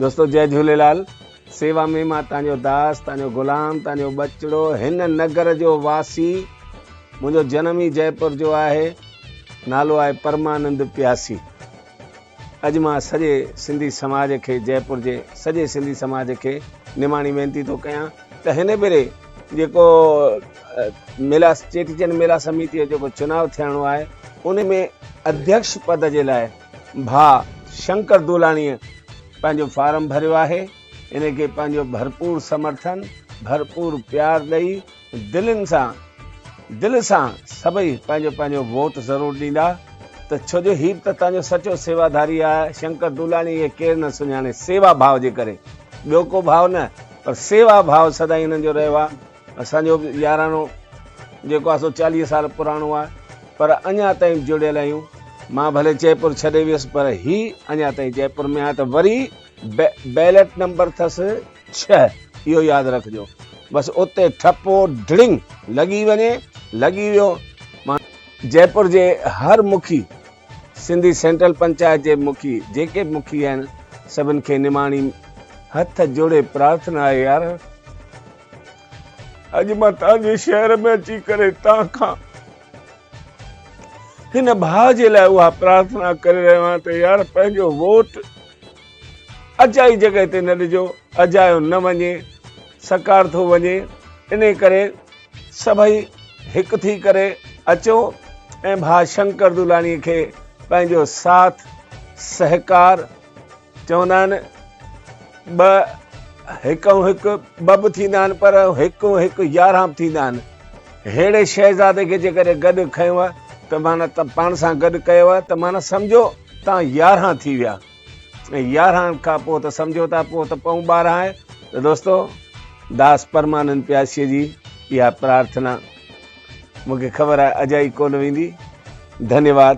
دوستو جئي جهوليلال سيوا ۾ مان تانجو داس تانجو غلام تانجو ٻچڙو هن نگر جو واسي منهنجو جنم ئي جئي پور جو آهي نالو آهي پرمانند پياسي اڄ مان سڄي سنڌي سماج کي جئي پور جي سڄي سنڌي سماج کي نماڻي وينتي ٿو ڪيان ته هن ڀيري جيڪو ميلا چيٽي چنڊ ميلا سميتي جو جيڪو چناو ٿيڻو آهي ان ۾ اڌيڪش پد جي لاء ڀاء شنڪر تولاڻيء پنهنجو فارم ڀريو آهي، ان کي پنهنجو ڀرپور سمرٿن، ڀرپور پيار ڏئي دلين سان دل سان سڀئي پنهنجو پنهنجو ووٽ ضرور ڏيندا ته ڇو جو هي به ته تنهنجو سچو سيواداري آهي شنڪر تولاڻي کي ڪير نه سڃاڻي سيوا ڀاء جي ڪري ٻيو ڪو ڀاء نه پر سيوا ڀاء سدائين هنن جو رهيو آهي. اسان جو به يارانو جيڪو آهي سو چاليهه سال پراڻو آهي پر اڃا تائين جڙيل آهيون. مان ڀلي جئپور ڇڏي ويس پر هي اڃا تائين جئپور ۾ آهي ته وري بيلٽ نمبر اٿس ڇهه اهو ياد رکجو بس اتي ٺپو ڍڙنگ لڳي وڃي لڳي ويو مان جئپور جي هر مکي سنڌي سينٽرل پنچائت جي مکي جيڪي به مکي آهن سڀن کي نماڻي هٿ جوڙي پرارٿنا آهي يار. اڄ مان توهان جي شهر ۾ اچي ڪري توهان کان هن ڀاء جي لاء اها پرارٿنا ڪري رهيو آهيان ته يار پنهنجو ووٽ اجائي جڳهه تي نه ڏجو اجايو نه وڃي سڪار ٿو وڃي ان ڪري سڀئي هڪ ٿي ڪري اچو ۽ ڀاء شنڪر دولاني کي پنهنجو ساٿ سهڪار چوندا آهن ٻه هڪ ۽ هڪ ٻه به ٿيندا آهن پر هڪ ۽ هڪ يارهان به ٿيندا آهن ههڙي شهزادي کي جيڪڏهن گڏ کنيو ته معنيٰ ته پاڻ سان گڏ ڪيو آهي ته معنيٰ سمجهو توهان يارهان ٿي ويا ۽ يارهان کان پوء ته سمجهو ٿا پوء ته پون ٻارهان آهي ته دوستو داس پرمانند پياسيء جي اها پرارٿنا مون کي خبر آهي اجائي ڪونه ويندي ڌنيواد